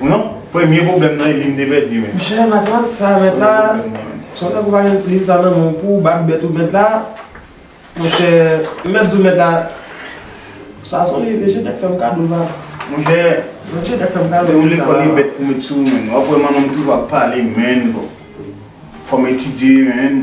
Non, premye pwoblèm nan Eli m te pèdi men. Monchè matant sa mèt la, se w nèg ou pa gen plim sa nan men w pou w bat bèt ou mèt la, monchè m mèt di w mèt la, sa s on liv e Genèt fè m kado la. Monchè, Genèt fè m kado liv sa. Lè w lekòl e bèt pou met sou w menn, w ap wè manman m toujou ap pale menn, fò m etidye menn.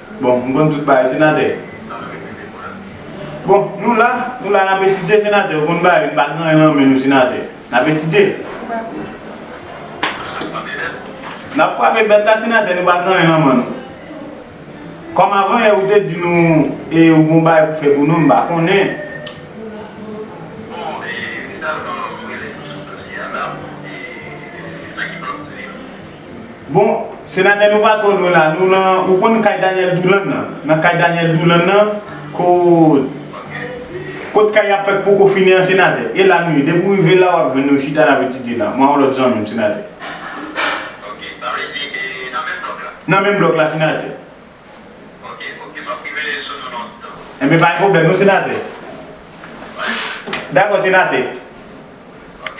Bon, m konn tout bagay senatè. Bon, nou la, nou la nap etidye senatè, ou konn bagay, nou pa gen anyen nan men nou senatè. Nap etidye. Nap frape bèt la senatè, nou pa gen anyen nan men nou. Kòm avan yè ou te di nou e ou gon bagay pou fè pou nou, m pa konnen. Bon senatè nou pa twò lwen la nou nan ou konn kay Daniel Doulan nan nan kay Daniel Doulan nan kot kot kay yap fè poko fini an senatè e la nou ye depi ou rive la wap jwenn nou chita nap etidye la mwen ak yon lòt zanmim senatè. Ok sa vle di e nan menm blòk la. Nan menm blòk la senatè. Ok ok map rive sou nou nan yon ti tan. Enben pa gen pwoblèm non senatè. Pa gen pwoblèm. Dakò senatè. Ok.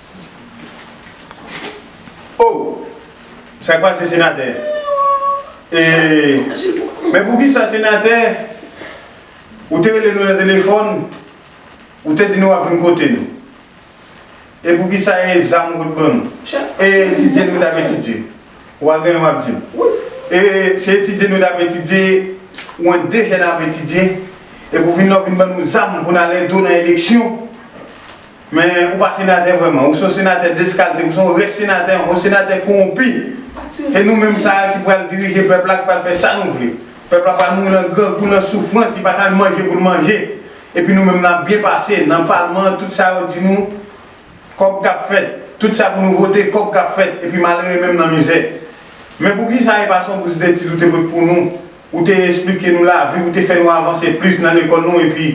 Oh! Sa k pase senatè? Eeee men poukisa senatè ou te rele nou nan telefòn ou te di nou wap vin kote nou? E poukisa e zam ou t ban nou? E etidye nou tap etidye? Ou pa genyen wap di m? E se etidye nou tap etidye ou an de jèn ap etidye e pou fin la ou vin ban nou zam pou n al edo nan eleksyon? Men ou pa senatè vrèman, ou se yon senatè deskalte, ou se yon rès senatè, yon senatè kowonpi. Se nou menm sa a ki pral dirije pèp la, ki pral fè sa nou vle. Pèp la pral mouri nan grangou, nan soufrans, li pa ka menm manje pou l manje. Epi nou menm n ap byen pase, nan palman an tout sa yo di nou, kòb k ap fèt. Tout sa pou nou vote, kòb k ap fèt. Epi malere menm nan mizè. Men pou ki sa e pa son bous detid ou te met pou nou, ou te esplike nou lavi, ou te fè nou avanse plis nan lekòl nou epi.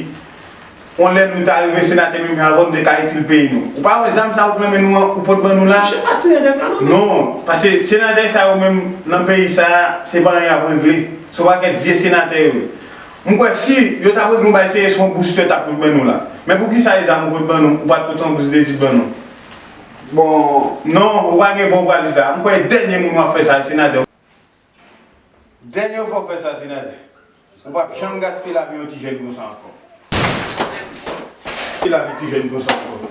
On lè nou ta rive senate menm jan avè w nou te ka itil peyi nou. Ou pa wè zam sa yo k nan men nou an ou pot ban nou la? Chef pa tire nèg la non. Non, pase senatè sa yo menm nan peyi sa a se pa anyen y ap regle, se yon pakèt vye senatè yo ye. M kwè si yo t ap regle yon bagay se se yon bous yo t ap pot ban nou la. Men pou kisa e zam ou pot ban nou ou pa t pot yon bous detid ban nou? Bon, non, ou pa gen bon valid la. M kwè dènye moun w ap fè sa a se senatè. Dènye fwa w fè sa Zinade, ou p ap janm gaspiye lavi yon ti jèn konsa ankò. Gaspiye lavi ti jèn konsa ankò.